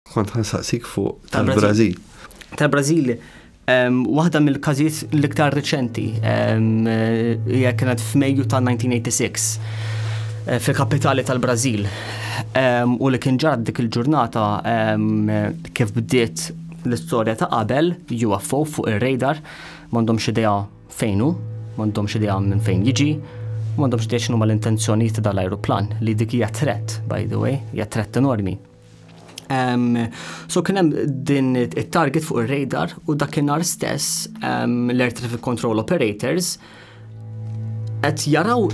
Kont ħansaqsik fuq tal-Brażil. Tal-Brażil, waħda mill-każijiet l-iktar riċenti hija kienet f'Mejju ta' 1986 eh, fil-kapitali tal-Brażil. U li kien ġad dik il-ġurnata kif bdiet l-istorja ta' qabel UFO fuq ir-radar m'għandhomx idea fejnu, m'għandhomx idea minn fejn jiġi, m'għandhomx idea x'numa l-intenzjonijiet ta' dal-ajruplan li dik hija threat, by the way, hija threat enormi. Um, so kien hemm din it-target fuq ir-radar u dakinhar stess um, l-Air Traffic Control Operators qed jaraw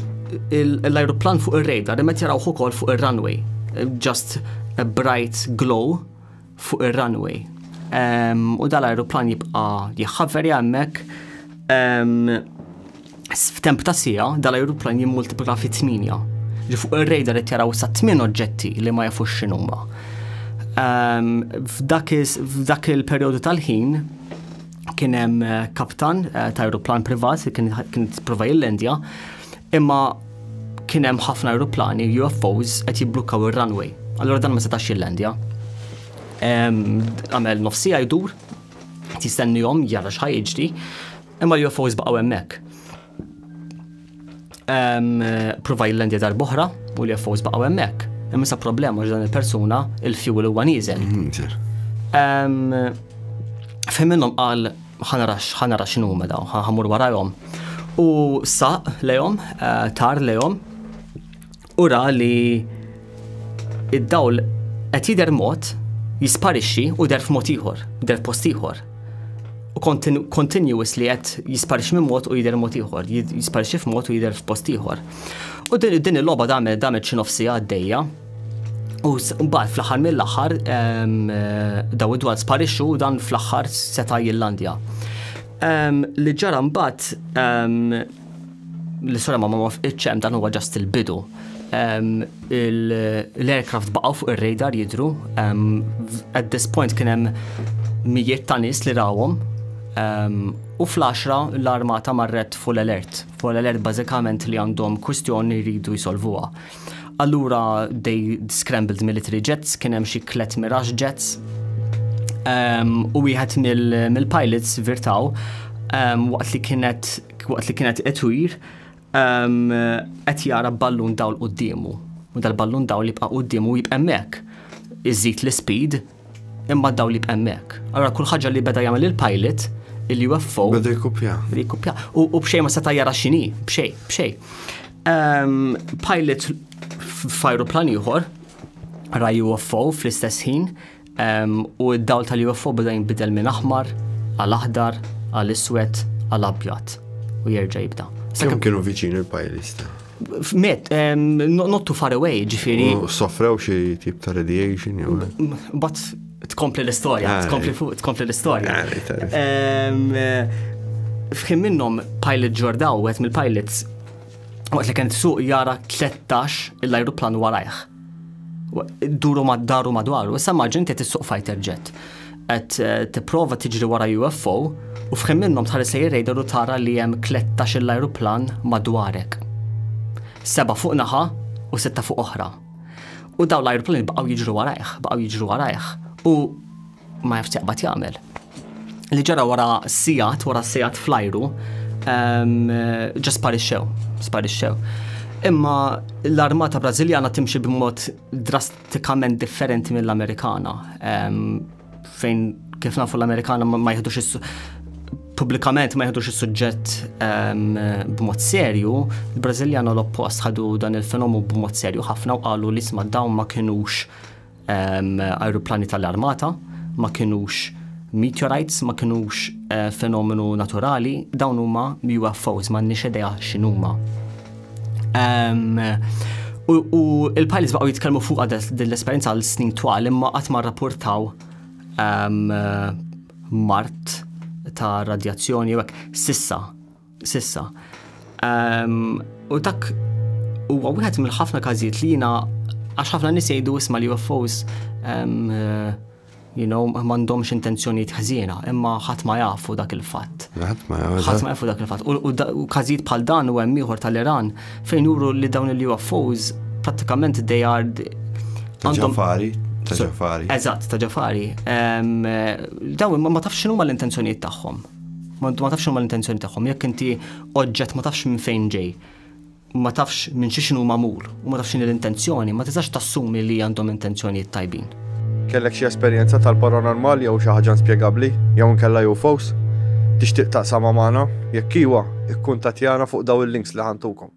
l-ajruplan fuq ir-radar imma jaraw ukoll fuq ir-runway. Just a bright glow fuq ir-runway. Um, u dal-ajruplan jibqa' jħaveri hemmhekk. Um, F'temp ta' siegħa, dal-ajruplan jimmultiplika fi tmienja. Ġi fuq ir-radar qed jaraw sa tmien oġġetti li ma jafux x'inhuma. Ehm, f'dak il-perjodu tal-ħin kien hemm eh, kaptan eh, ta' ajruplan privat li kien jipprova jillendja, imma kien hemm ħafna ajruplani UFOs qed jibblukkaw ir-runway. Allura dan ma setax jillendja. Ehm, għamel nofsija jdur, jistennihom jara x'ħajġri, Imma l-UFOs baqgħu hemmhekk. Prova jillendi darboħra u l-UFOs baqgħu hemmhekk. Imma sa problema ġdan il-persuna il-fuel huwa nieżel. Mhm, Fim minnhom qal ħanarax ħanarax x'inhu mela ħamur warajhom. U saq lejhom, eh, tar lejhom U ra li id-dawl qed jidher mod jisparixxi u der f'mod ieħor, der post ieħor. U continuous li qed jisparixxi minn mod u jidher mod ieħor, jisparixxi f'mod u jidher f'post ieħor. U din il-logħba damet damet xi nofsi għaddejja. U mbagħad fl-aħħar mill-aħħar eh, daw id-dwar sparixxu dan fl-aħħar seta' jillandja. Li ġara mbagħad L-istorja ma ma fqitx hemm dan huwa ġast il-bidu. L-aircraft baqgħu fuq ir-radar jidru. At this point kien hemm mijiet ta' nies li rawhom u fl-10 l-armata marret full alert. Full alert bażikament li għandhom kwistjoni jridu jsolvuha. Allura they scrambled military jets, kien hemm xi tliet Mirage jets. Um, u wieħed mill-pilots mil virtaw um, waqt li kienet waqt li kienet etwir um, qed jara ballun dawl quddiemu. U dal-ballun dawl jibqa' quddiemu jibqa' hemmhekk. Iżid l-speed Imma daw li b'emmek. Allora kull ħaġa li beda jagħmel il-pilot, il-UFO. Beda jkupja. Beda jkupja. U bxej ma seta' jara xini, bxej, bxej. Ehm, pilot f'ajruplan ieħor, ra UFO fl-istess ħin, ehm, u d-dawl tal-UFO beda jinbidel minn aħmar, għal-aħdar, għal-iswed, għal-abjad. U jerġa' jibda. Sekemm kienu viċin il-pilot. Met, not too far away, ġifiri. Soffrew xie tip ta' radiation, jew. But tkompli l-istoria, ah, tkompli fuq, tkompli l-istoria. Ah, Fħim minnom pilot ġordaw, għet mill-pilots, għet li kent suq jara 13 l-ajruplan warajħ. Duru mad-daru madwaru, issa maġin qed issuq fighter jet. Qed eh, tipprova tiġri wara UFO u fħin minnhom tħares lejn radar u tara li hemm 13 l-ajruplan madwarek. Seba' fuq naħa u sitta fuq oħra. U daw l-ajruplani baqgħu jiġru warajh, baqgħu jiġru warajh. U Ma jafx jaqbad jagħmel. Li ġara wara sigħat, wara sigħat flajru, ehm, ġa sparixxew, sparixxew. Imma l-armata Brażiljana timxi b'mod drastikament differenti mill-Amerikana. Ehm, fejn kif nafu l-Amerikana ma jħedux is pubblikament ma jħedux is-suġġett ehm, b'mod serju, il-Brażiljana l-oppost ħadu dan il-fenomu b'mod serju ħafna u qalu li sma dawn ma kinux Ajruplani tal-armata ma kinux meteorites, ma kinux eh, fenomenu naturali, dawn huma UFOs, ma nix idea x'inhuma. U il-pilots baqgħu jitkellmu fuq din l-esperjenza għal snin twal imma qatt ma rrapportaw mart ta' radjazzjoni jekk sissa Sissa. U dak huwa wieħed mill-ħafna każijiet li jiena għax ħafna nies jgħidu isma' li UFOs you know, mandomx intenzjoniet ħżiena, imma ħadd ma jafu dak il-fatt. Ħadd ma jafu dak il-fatt. U każijiet bħal dan u hemm ieħor tal-Iran fejn juru li dawn il-UFOs pratikament they are ġafari. Eżatt, ta' ġafari. Dawn ma tafx x'inhuma l-intenzjonijiet tagħhom. Ma intu ma tafx huma l-intenzjoni tagħhom, jekk inti oġġett ma tafx minn fejn ġej, ma tafx minn xi x'inhu magħmul u ma tafx x'inhi l-intenzjoni, ma tistax tassumi li għandhom intenzjonijiet tajbin. Kellek xi esperjenza tal-paranormal jew xi ħaġa inspjegabbli jew inkella UFOs? Tixtieq taqsamha magħna? Jekk iwa, ikkuntattjana fuq dawn il-links li ħa ntukom.